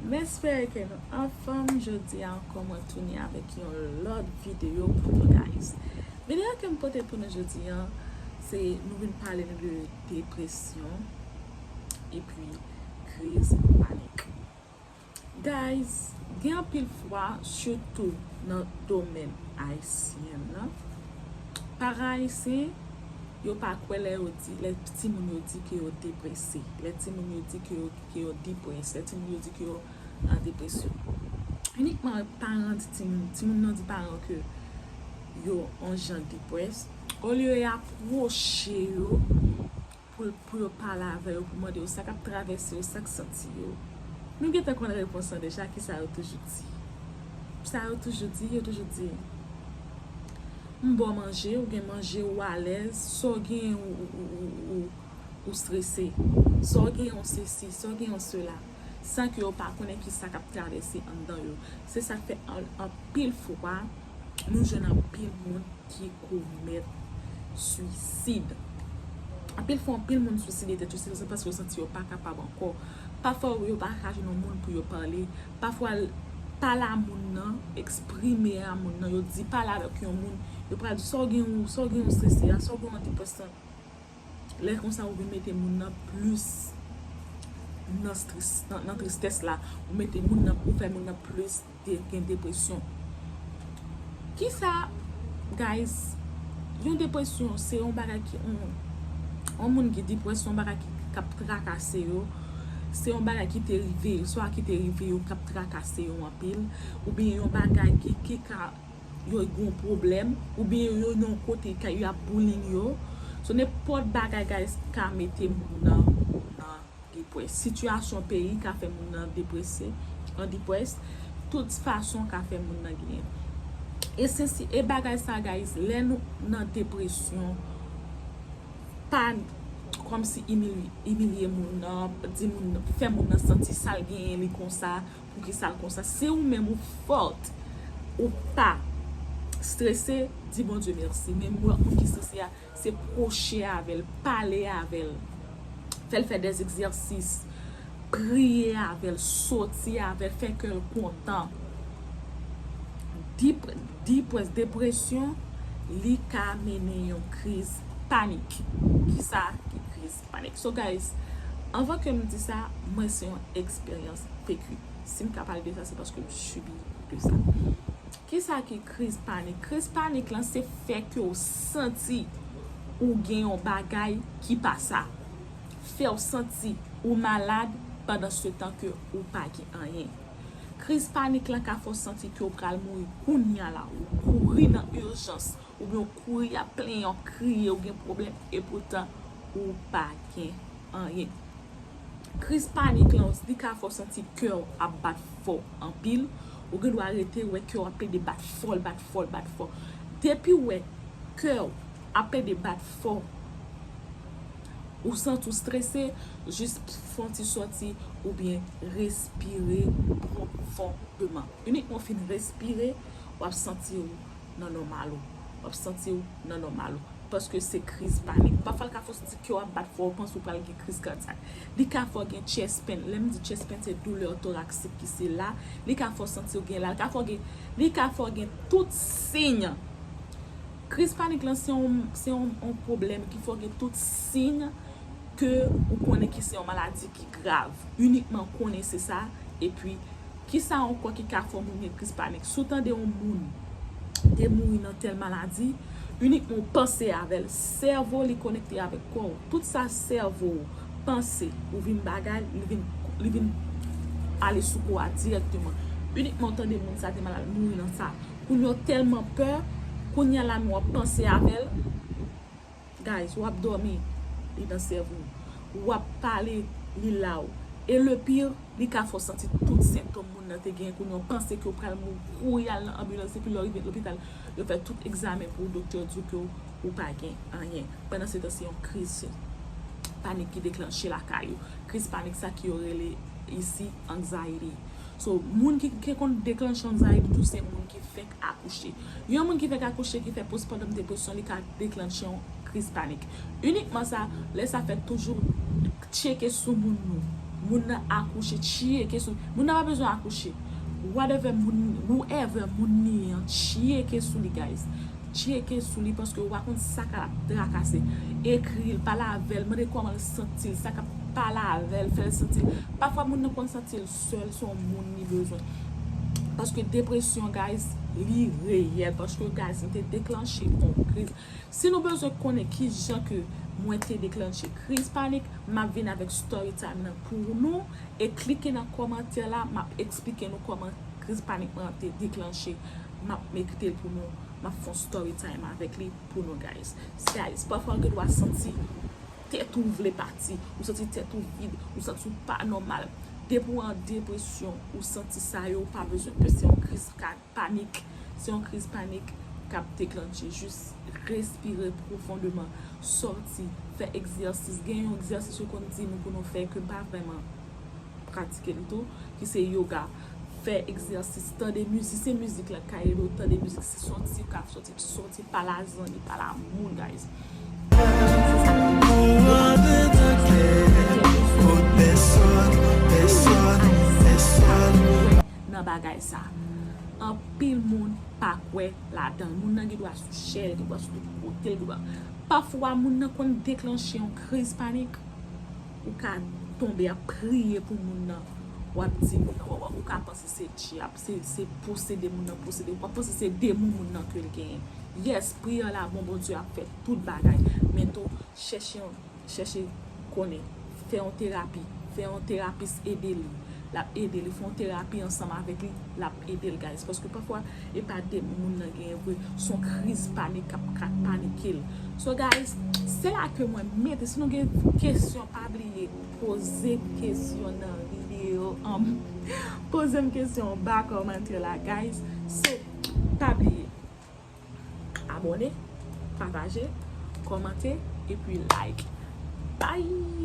M espere ke nou anfom jodi a anko mwen tounen avek yon lot video pou nou guys video ke m pote pou nou jodi a se nou vin pale nou de depresyon epi kriz panik. Guys gen anpil fwa sitou nan domèn ayisyen nan paran ayisyen yo pa kwè lè yo di lè timoun yo di ke yo deprese lè timoun yo di ke yo ke yo depressed lè timoun yo di ke yo an depresyon inikman paran di timoun timoun nan di paran ke yo on jan depressed olye ya pwoche yo pou yo pale avè yo pou mande yo sa k ap travèse yo, sa k santi yo. Nou gentan konn repons lan deja, ki sa yo toujou di? Sa yo toujou di, yo toujou di, M ba w manje, ou gen manje, ou alèz, sa w genyen ou strese, sa w genyen ou sesi, sa w genyen ou sela, san ke yo pa konnen ki sa k ap travèse anndan yo. Se sa k fè anpil fwa, nou jwenn anpil moun ki komèt swisid. Anpil fwa anpil moun swiside tèt yo se paske yo santi yo pa kapab ankò. Pafwa yo pa ka jwenn yon moun pou yo pale. Pafwa pale a moun nan, eksprime a moun nan, yo di pale avèk yon moun, yo pral di sa w gen ou, sa w gen ou sese a, sa w gen ou an depresyon. Lè konsa ou vin mete moun nan plis nan tristès la, ou mete moun nan, ou fè moun nan plis gen depresyon. Kisa guys, yon depresyon se yon bagay ki on, on moun ki deprè se yon bagay ki kap trakase yo, se yon bagay ki te rive, swa ki te rive yo kap trakase yo anpil, oubyen yon bagay ki ka. yo gon pwoblèm ou byen yo yo yon kote ka yo ap bullying yo so nenpòt bagay guys ka mete moun nan nan depwès sitiyasyon peyi ka fè moun nan deprese nan depwès tout fason ka fè moun nan genyen e sensi e bagay sa guys lè nou nan depresyon pa kòmsi imilye imilye moun nan di moun nan fè moun nan santi sal genyen li konsa Poukisa l konsa si ou menm ou fort ou pa strese di Bondye merci men mwen moun ki strese a se proche avèl pale avèl fèl fè des egzèsis priye avèl soti avèl fè kèl kontan di pwès depresyon li ka mennen yon kriz panik kisa ki kriz Panic so guys anvan kem di sa mwen se yon eksperyans PQ sim ka pale de sa se paske m subi de sa kisa ki kriz panik kriz panik lan se fè ke w santi ou gen yon bagay ki pa sa fèw santi ou malad pandan se tan ke ou pa gen anyen kriz panik lan ka fè w santi ke w pral mouri kounya la ou kouri nan urjans Ou byen w kouri ap plenyen wap kriye ou gen pwoblèm epoutan ou pa gen anyen. Kriz panik lan li ka fè w santi kè w ap bat fò anpil, ou gen dwa rete wè kè w ap plede bat fò l bat fò l bat fò. Depi w wè kè w ap plede bat fò, ou santi w strese, jis fè yon ti sòti ou byen respire pwofondman. Inikman w fin respire, wap santi w. nan nòmal ou. Wap santi ou nan nòmal ou. Paske se kriz panik. Pafwa l ka fè w santi kè w ap bat fò, ou panse ou pral gen kriz kadyak. Li ka fè w gen chest pain. Lè m di chest pain se douleur thoracique ki se la. Li ka fè w santi w gen la. Li ka fè w gen, li ka fè w gen tout siy. Kriz panik lan se yon, se yon, yon pwoblèm ki fè w gen tout siy ke ou konnen ki se yon maladi ki grav. Inikman konnen se sa, epi. Kisa ankò ki ka fè moun gen kriz panik? Si w tande yon moun te mouri nan tèl maladi, inikman w panse avè l, sèvo li konekte avèk kò w. Tout sa sèvo w panse ou vin bagay, li vin ale sou kò a dirèkteman. Inikman w tande moun sa te malad, l mouri nan sa. Kounye w tèlman pè, kounye a la nou ap panse avè l. Guys wap domi li nan sèvo w wap pale li la w e le pire li ka fè w santi tout sentom moun nan te genyen kounya w panse ke w pral mouri kouri al nan anbilans epi lè w rive lopital yo fè tout egzamen pou w doktè di w ke w pa gen anyen pandan se tan se yon kriz panik ki deklanche lakay ou kriz panik sa ki yo rele isi anxiety so moun ki konn deklanche anxiety tou se moun ki fenk. akouche. Yon moun ki fèk akouche ki fè postpartum depression li ka deklannche yon kriz panik. Inikman sa, lè sa fèt toujou tcheke sou moun nou. Moun nan akouche, tcheke sou li. Moun nan pa bezwen akouche. Whatever moun, whoever moun li ye an, tcheke sou li guys. Tcheke sou li paske ou pa konn sa ka ap trakase. Ekri l, pale avè l, mande kòman l santi l, sa k ap pale avè l, fè l santi l. Pafwa moun nan konn santi l. sèl son moun li bezwen paske depresyon guys li reyèl paske guys m te deklanche on kriz si nou bezwen konnen kijan ke mwen te deklanche kriz panik map vin avèk story time nan pou nou e klike nan kòmantè la map eksplike nou kòman kriz panik mwen te deklanche map mete pou nou map fon story time avèk li pou nou guys guys pafwa ou gen dwa santi tèt ou vle pati, ou santi tèt ou vid, ou santi ou pa nòmal. Depi ou an depresyon, ou santi sa yo, ou pa bezwen pè, se yon kriz panik, se yon kriz panik k ap deklannche. Jis respire pwofondeman, sòti, fè egzèsis. Gen yon egzèsis yo konn di nou pou nou fè ke m pa vrèman pratike l tou, ki se yoga. Fè egzèsis, tande mizik, se mizik la k ka ede w, tande mizik, se son ti ka. Soti pa la zan ni pa la moun guys. Nan bagay sa. Anpil moun pa kwe la dan. Moun nan gen dwa sou chè, gen dwa sou tout kote, gen dwa. Pafwa moun nan konn deklanche yon kriz panik. Ou ka tonbe ap priye pou moun nan. Wap di ou ka panse se dyab. Se posede moun nan posede. Wap panse se demon moun nan ke l genyen. Yes, priyè la bon Bondye ap fè tout bagay. Men tou, chèche yon, chèche konnen. Fè yon terapi. Fè yon terapis ede li. Lap ede li. Fè yon terapi ansanm avèk li. Lap ede l guys. Paske pafwa e pa demon moun nan genyen vre. Son kriz panik kap ka panike l. So guys, se la ke mwen mete. Si nou gen kesyon pa bliye. Poze kesyon nan video an Poze m kesyon an ba kòmantè la guys So pa bliye Abòne Pataje Kòmante Epi like Bye.